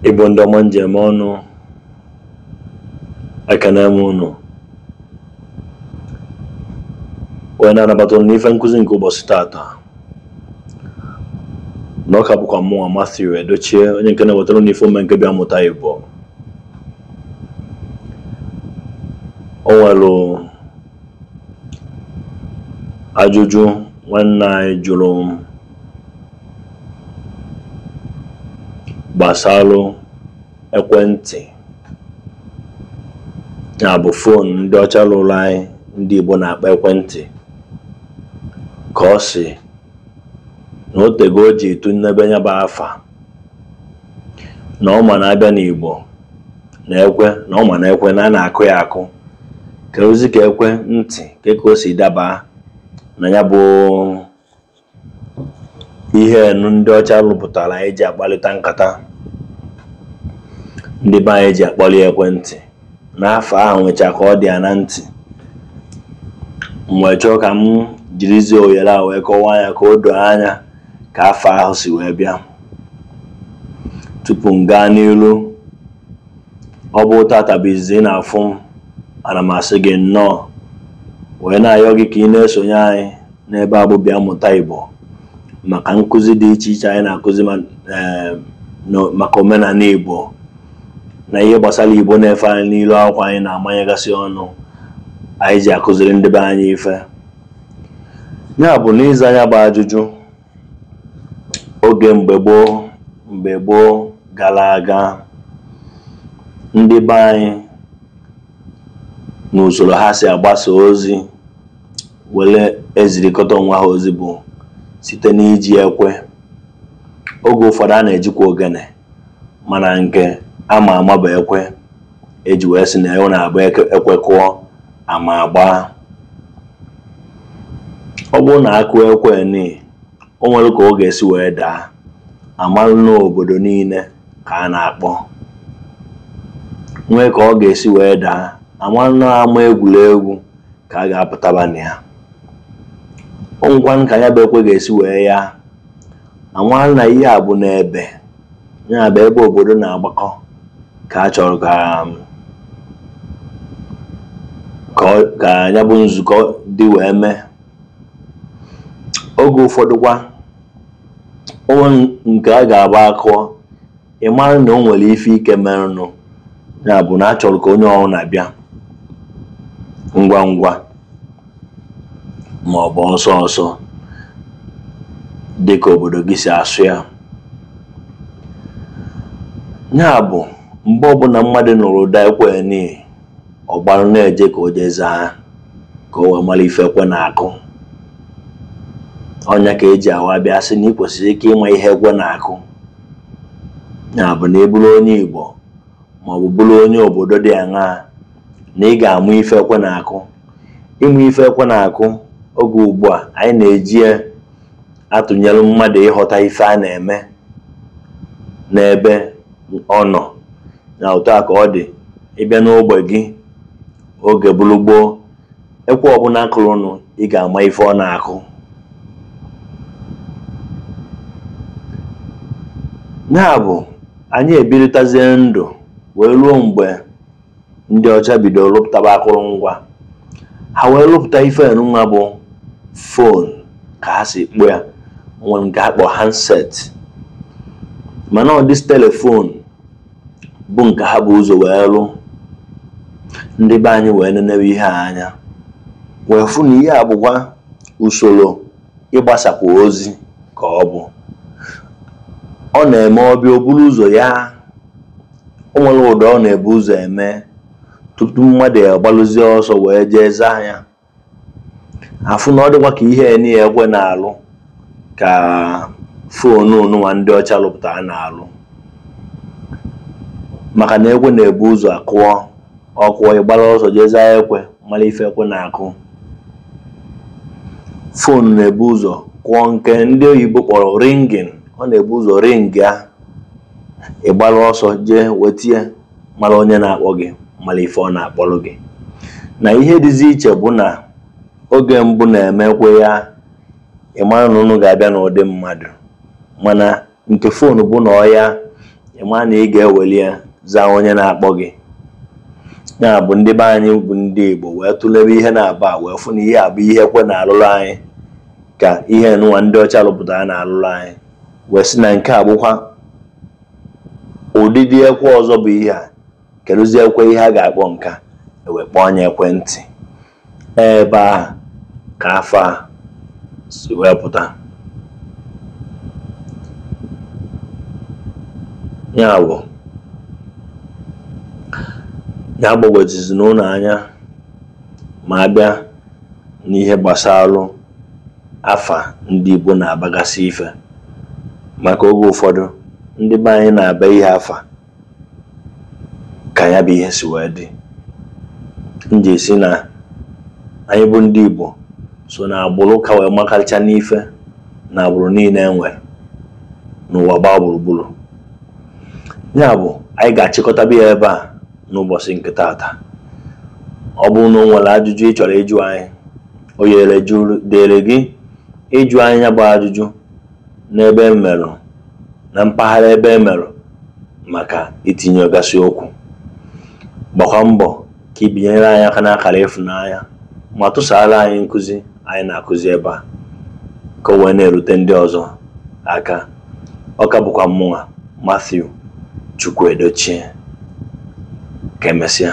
Igbo ndị ọma m ji eme ọnụ ekene m ụnụ wee na-anabata ụnụ n'ife nkụzi nke ụbọchị tata na ọ ka bụkwa mụwa Matthew Edochie onye nke na-ewetara ụnụ ife ome nke bịa mụta Igbo o nwere ajụjụ nwanne anyị jụrụ m gbasalụ ekwentị ya bụ fon ndị ọcha lụrụ anyị ndị Igbo na-akpọ ekwentị ka ọ sị na o tego o ji etunebe ya bụ afa na ọ ma na a bịa n'Igbo na ekwe na ọ ma na ekwe na a na-akụ ya akụ kedụzi ka ekwentị kee ka o si daba na ya bụ ihe nụ ndị ọcha rụpụtara anyị ji akpalịta nkata ndị be anyị ji akpọli ekwentị na afa ahụ nwecha ka ọ dị ya na ntị m wee chọọ ka m jirizie ohere a wee kọwaa ya ka o doo anya ka afa ahụ si wee bịa tupu m gaa n'ilu ọ bụ tata bụ izizi ị na-afụ m ana m asị gị nnọọ wee na-ayọ gị ka ị na-esonye anyị n'ebe a bụ bịa mụta Igbo maka nkụzi dị iche iche anyị na-akụzi eh, maka omenala Igbo na ihe gbasara Igbo na ife anyị n'ilu akwụkwọ anyị na-amanyegasị ọnụ anyị ji akụziri ndị be anyị ife ya bụ n'ịza ya bụ ajụjụ oge mgbe gboo mgbe gboo gara aga ndị be anyị n'usoro ha si agbasa ozi were ezirikọta onwe ha ozi bụ site n'iji ekwe oge ụfọdụ a na-ejikwa ogene mana nke ama ama bụ ekwe e ji wee sị na ọ na-abụ ekwe kụọ ama agbaa ọ bụrụ na a kụọ ekwe ni o nwere ka ọ ga-esi wee daa a malụ na obodo niile ka a na-akpọ nwee ka ọ ga-esi wee daa a malụ na ama egwuregwu ka a ga-apụtaba na ya o nwekwanụ ka ya bụ ekwe ga-esi wee ya a malụ na ihe a bụ n'ebe ya bụ ebe obodo na-agbakọ ka a chọrọ ka um, ka ya bụ nzukọ dị wee mee oge ụfọdụkwa o nwere nke ọ ga-abụ a kụọ ị mara na o nwere ife ike merenụ ya bụ na a chọrọ ka onye ọrụ na-abịa ngwa ngwa ma ọ bụ ọsọ ọsọ dị ka obodo gị si asụ ya ya bụ mgbe ọbụla mmadụ nụrụ ụda ekwe ni ọ gbara na-eje ka o jee zaa ka o wee mara ife ekwe na-akụ ọ nya ka e ji awa bịa sị na ị kwesịrị ike ịma ihe ekwe na-akụ ya bụ na ị bụrụ onye Igbo ma ọ bụ bụrụ onye obodo dị aṅaa na ị ga-amụ ife ekwe na-akụ ịmụ ife ekwe na-akụ oge ugbu a anyị na-eji ya atụnyere mmadụ ịghọta ife a na-eme n'ebe ọ nọ na otu a ka ọ dị ị bịa n'ogbe gị oge bụrụ gboo ekwe ọbụla kụrụnụ ị ga-ama ife ọ na-akụ ya bụ anyị ebiritazie ndụ wee ruo mgbe ndị ọcha bidoro lụpụtaba akụrụngwa ha wee lụpụta ife nụwa bụ fon ka ha si kpọ ya nwere nke a kpọ handset mana ọ dị telefon bụ nke ha bu ụzọ wee lụ ndị be anyị wee nenewe ihe a anya wee fụ na ihe a bụkwa usoro ịgbasakwa ozi ka ọ bụ ọ na-eme ọ bịa o buru ụzọ ya o nwere ụda ọ na-ebu ụzọ eme tupu mmadụ agbalụzie ọsọ wee jee zaa ya a fụ na ọ dịkwa ka ihe nịa ekwe na-alụ ka foonu nụwa ndị ọcha lụpụtara na-alụ maka na ekwe na-ebu ụzọ kụọ ọ kụọ ị gbara ọsọ jee zaa ekwe mara ife ekwe na-akụ foonu na-ebu ụzọ kụọ nke ndị oyibo kpọrọ ringing ọ na-ebu ụzọ ring ya ị gbara ọsọ jee wetie mara onye na-akpọ gị mara ife ọ na-akpọrọ gị na ihe dịzi iche bụ na oge mbụ na-eme ekwe ya ị mara na ụnụ ga-abịa n'ụdị mmadụ mana nke foonu bụ na ọ ya ị ma na ị ga-eweli ya zaa onye na-akpọ gị ya bụ ndị be anyị bụ ndị Igbo wee tụlebe ihe na-aba wee fụ na ihe a bụ ihe ekwe na-alụrụ anyị ka ihe nụwa ndị ọcha rụpụtara na-alụrụ anyị wee sị na nke a bụkwa ụdịdị ekwe ọzọ bụ ihe a kedụzi ekwe ihe a ga-akpọ nke a e wee kpọọ nya ekwentị ebe a ka afa a si wee pụta ya bụ ya agbagwojuzina ụnụ anya ma a bịa n'ihe gbasara afa ndị Igbo na-abagasị ife maka oge ụfọdụ ndị be anyị na-aba ihe afa ka ya bụ ihe si wee dị m ji esi na anyị bụ ndị Igbo so na agbụrụ ka wee makarịcha n'ife na agbụrụ niile e nwere n'ụwa gbaa gburugburu ya bụ anyị ga-achịkọtaba ya ebe a n'ụbọsị nke taata ọ bụrụ na o nwere ajụjụ ị chọrọ ịjụ anyị oyere dịrị gị ịjụ anyị ya bụ ajụjụ n'ebe e merụ na mpaghara ebe e merụ maka itinyegasị okwu gbakwa mbọ ka ị binyere anyị aka n'akara ịfụnanya ma tụsaara anyị nkụzi anyị na-akụzi ebe a ka o wee na-erute ndị ọzọ aka ọ ka bụkwa mụnwa Matthew Chukwuedochie ka emesịa